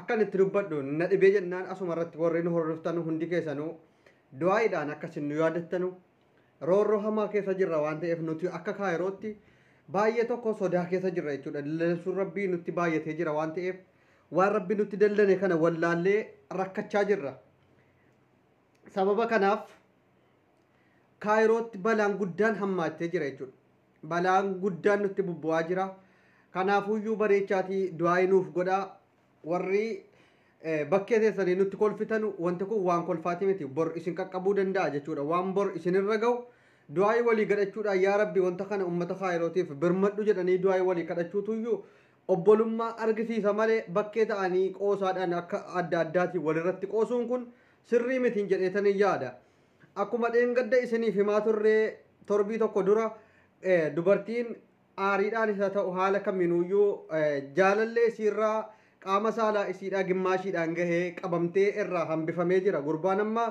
Akkan itti dubbadhu na dhibee jennaan asuma irratti warri nu hordoftanu hundi keessanu du'aa'iidhaan akka isin nu yaadattanu roorroo hamaa keessa jirra waan ta'eef nuti akka kaayirootti baay'ee tokko sodaa keessa jirra jechuudha. Dallansuun rabbii nutti baay'atee jira waan ta'eef waan rabbi nutti dallane kana wallaallee rakkachaa jirra. Sababa kanaaf Kaayirootti balaan guddaan hammaachaa jira jechuudha. Balaan guddaan nutti bubbu'aa jira. Kanaafuyyuu bareechaatii du'aa'ii nuuf godhaa. Warri eh, bakkee teessanii nutti kolfitan wanti kun waan kolfaati miti. Bor isin qaqqabuu danda'a jechuudha. Waan bor isinirra ga'u du'aa'ii walii gadhachuudhaan yaa rabbi wanta kana ummata kaayirootiif birmadhu jedhanii du'aa'ii walii kadhachuutuyyuu obbolummaa argisiisa malee bakkee ta'anii qoosaadhaan akka adda addaati walirratti qoosuun kun sirrii mitiin jedheetanin yaada. Akkuma dheengadda isiniif himaa turree torbii tokko dura dubartiin aariidhaanis haa ta'u haala kamiinuuyyuu jaalallee isiirraa qaama saalaa isiidhaa gimmaashiidhaan gahee qabamtee irraa hambifamee jira. Gurbaan amma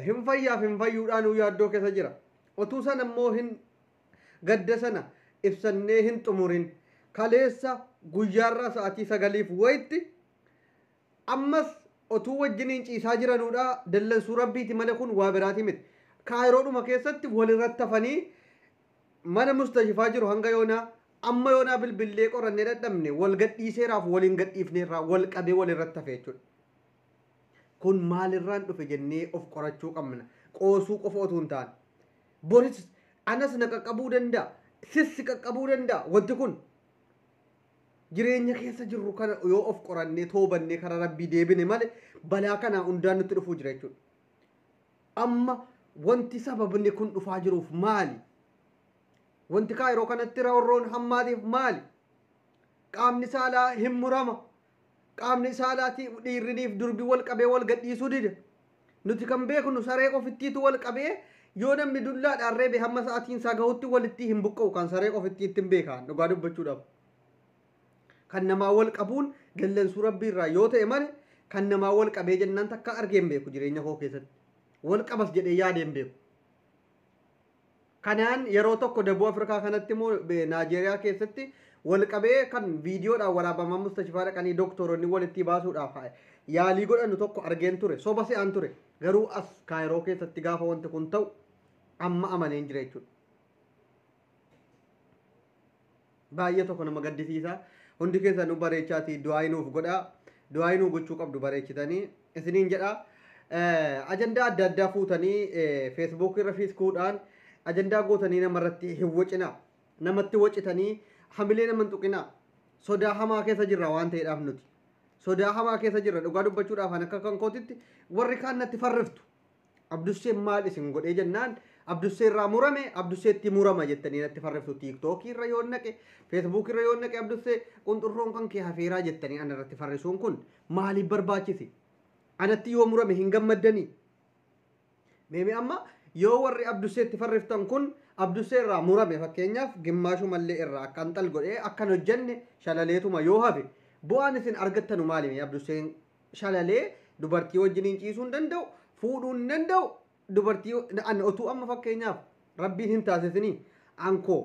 hin fayyaaf hin fayyuudhaanuu yaaddoo keessa jira. Otuu sana immoo hin Gadda sana ibsannee hin xumurin. Kaleessa guyyaarraa sa'atii sagaliif wayitti ammas otuu wajjiniin ciisaa jiranuudha dallansuu Rabbiiti malee kun waa biraati miti. Kaayiroodhuma keessatti walirratti hafanii mana mustashifaa jiru hanga yoonaa amma yoonaa bilbillee qorannee dhadhabne wal gadhiiseeraaf waliin gadhiifneerraa wal qabee walirratti hafe jechuudha. Kun maalirraan dhufe jennee of qorachuu qabna. Qoosuu qofa otuu hin taane. Boris anas na qaqqabuu danda'a. Sis si qaqqabuu danda'a wanti kun. Jireenya keessa jirru kana yoo of qorannee toobannee karaa rabbii deebine malee balaa kanaa hundaan nutti dhufuu jira jechuudha. Amma wanti sababni kun dhufaa jiruuf maali? Wanti kaayiroo kanatti roorroon hammaatiif maali? Qaamni saalaa hin murama. Qaamni saalaatii dhiirriniif durbi wal qabee wal gadhiisuu dide. Nuti kan beeknu saree ofittiitu wal qabee yoo namni dullaadhaan reebe hamma sa'atiin isaa gahutti walittii hin buqqa'u kan saree ofittiittin beekaan dhugaa dubbachuudhaaf. Kan namaa wal qabuun dallansuu rabbii irraa yoo ta'e male kan namaa wal qabee jennaan takka argee hin beeku jireenya koo keessatti. Wal qabas jedhee yaadee hin beeku. Kanaan yeroo tokko Dabuu Afrikaa kanatti immoo Naajeeriyaa keessatti wal qabee kan viidiyoodhaan waraabamaa mustashifaa dhaqanii doktoronni walittii baasuudhaaf yaalii godhanu tokko argeen ture. Soba se'aan ture. Garuu as Kaayiroo keessatti gaafa wanti kun ta'u amma amaneen jira jechuudha. Baay'ee tokko nama gaddisiisa. Hundi keessanuu bareechaati du'aayii nuuf godha. Du'aayii nuu gochuu qabdu bareechitanii isiniin jedha. Ajandaa adda addaa fuutanii feesbuukii irra fiiskuudhaan ajandaa gootanii namarratti hin wacina. Namatti wacitanii hamilee nama hin tuqina. Sodaa hamaa keessa jirra waan ta'eedhaaf nuti. Sodaa hamaa keessa jirra dhugaa dubbachuudhaaf kan akka kan kootitti warri kaan natti farriftu. Abdusseen maal isin godhee jennaan Abdussee irraa murame Abdusseetti murama jettanii natti farriftu tiiktookii irra yoo naqe feesbuukii irra yoo naqe Abdussee qunxurroon kan kee hafeeraa jettanii ana irratti farrisuun kun maaliif barbaachise? Anatti yoo murame hin gammaddanii? Meemee amma yoo warri Abdusseetti farriftan kun Abdussee irraa murame fakkeenyaaf gimmaashumallee irraa akka anxal godhee akkan hojjenne shalaleetuma yoo hafe bu'aan isin argattanu maalimi Abdusseen shalalee dubartii wajjiniin ciisuu hin danda'u fuudhuu hin danda'u dubartii an otuu amma fakkeenyaaf rabbiin hin taasisinii ankoo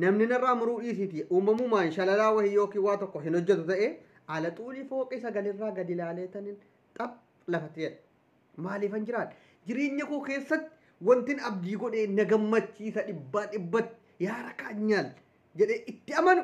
namni narraa muruu dhiisiiti uumamumaan shalalaa wahii yookiin waa tokko hin hojjetu ta'e ala xuulii fooqii sagalirraa gadi ilaalee tanin xap lafatti jedha maaliifan jiraadha jireenya koo keessatti wantin abdii godhee na gammachiisa dhibbaa dhibbatti yaa rakaa nyaal jedhee itti amanu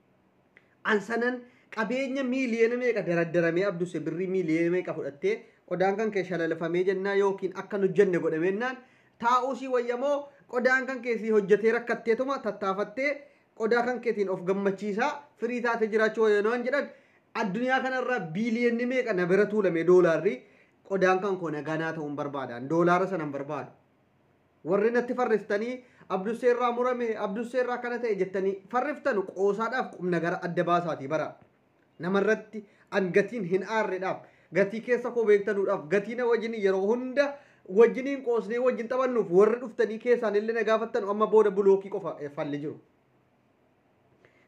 An sanan qabeenya miiliyoona meeqa daraddaramee abduse birrii miiliyoona meeqa fudhattee qodaan kan kee shalalafamee jennaa yookiin akka hin hojjenne godhameennaan taa'uu sii wayya moo qodaan kan kee sii hojjetee rakkatteetuma tattaafattee qodaa kan keetiin of gammachiisaa firii taatee jiraachuu wayya waan jedhan addunyaa kanarraa biiliyoonni meeqa na bira tuulame doolaarri qodaan kan koo nagaa naa ta'uun barbaadaan doolaara sanan barbaadu. Warri natti farriftanii Abdussee irraa murame, Abdussee irraa akkana ta'e jettanii farriftanu qoosaadhaaf qubnagara adda baasaatii bara. Namarratti an gatiin hin aarredhaaf, gatii keessa koo beektanuudhaaf, gatii na wajjin yeroo hunda wajjiniin qoosnee wajjin taphannuuf warri dhuftanii keessaan illee na gaafattanu amma booda bulookii qofa eh, falli jiru.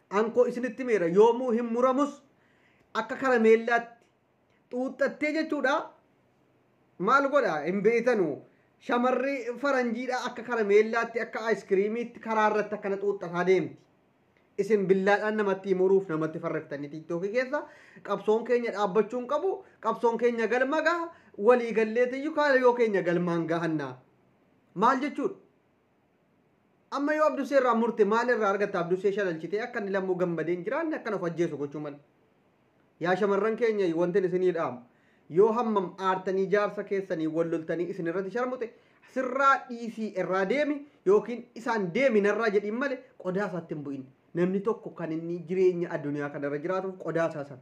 Ankoo isinitti meera yoomuu hin muramus akka karameellaatti xuuxxattee jechuudha maal godha hin beeytanu shamarri faranjiidha akka karameellaatti akka aayiskiriimiitti karaa irratti akkana xuuxxataa deemti. Isin billaadhaan namatti muruuf namatti farreftanii tiiktookii keessa qabsoon keenya dhaabbachuu hin qabu qabsoon keenya galma gaha walii galleetiyyuu kaayoo keenya galmaan gahanna. Maal jechuudha? Amma yoo Abdusee irraa murte maal irraa argatta Abdusee shalalchitee akka inni lammuu gammadee hin jiraanne akkan of ajjeesu gochuu malee. Yaa shamarran keenya wantin isinii dhaamu yoo hammam aartanii jaarsa keessanii wal loltanii isin irratti sharmuxe sirraa dhiisii irraa deemi yookiin isaan deemi narraa jedhiin male qodaa isaatti hin bu'in. Namni tokko kan inni jireenya addunyaa kanarra jiraatuuf qodaa isaa sana.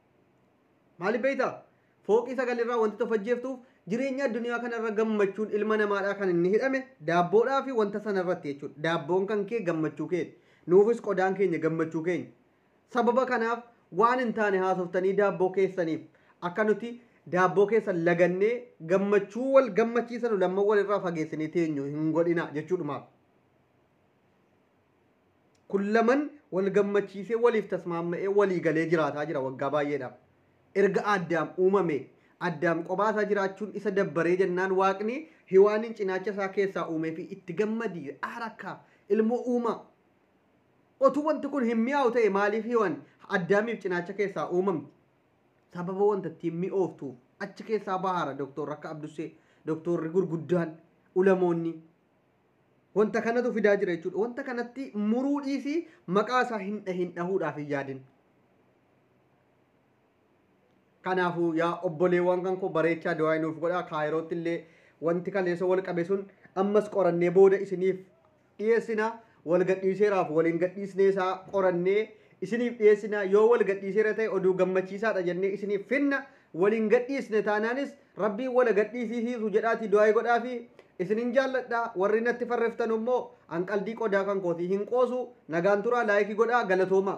Maaliif beektaa? Fooqii sagalirraa wantoota of ajjeeftuuf jireenya addunyaa kanarra gammachuun ilma namaadhaa kan inni hidhame daabboodhaa fi wanta sanarratti jechuudha. Daabboon kan kee gammachuu keeti. Nuufis qodaan keenya gammachuu keenya. Sababa kanaaf waan hin taane haasoftanii daabboo keessaniif akka nuti daabboo keessan lagannee gammachuu wal gammachiisanu lamman walirraa fageessinee teenyu hin godhina jechuudhumaaf. Kun laman wal gammachiisee waliif tasmaamma'ee walii galee jiraataa jira waggaa baay'eedhaaf. Erga Addaam uumamee, Addaam qophaa isaa jiraachuun isa dabbaree jennaan Waaqni Hiwaaniin cinaacha isaa keessaa uumeefii itti gammadi, aara akka, ilmoo uumaa. Otuu wanti kun hin mi'aawu ta'e maaliif Hiwaan Addaamiif cinaacha keessaa uumamti? Sababa wanta ittiin mi'ooftuuf achi keessaa bahaara Doktor akka Abdussee, doktorri gurguddaan, ulamoonni. Wanta kanatu fidaa jira jechuudha. Wanta kanatti muruu dhiisii maqaa isaa hin dhahin dhahuudhaaf hin yaadin. Kanaafuu yaa obboleewwan kan koo bareechaa du'aa nuuf godhaa kaayirootti illee wanti kaleessa wal qabe sun ammas qorannee booda isiniif dhiyeessina wal gadhiiseeraaf waliin gadhiisnee isaa qorannee isiniif dhiyeessina yoo wal gadhiiseera ta'e oduu gammachiisaadha jennee isiniif finna waliin gadhiisne taanaanis Rabbiin wal agadhiisiisiisu jedhaatii du'aayi godhaafii. Isinin jaalladha warri natti farreftanu immoo an qaldii qodaa kan kooti hin qoosu nagaan turaa laayiki godhaa galatoomaa.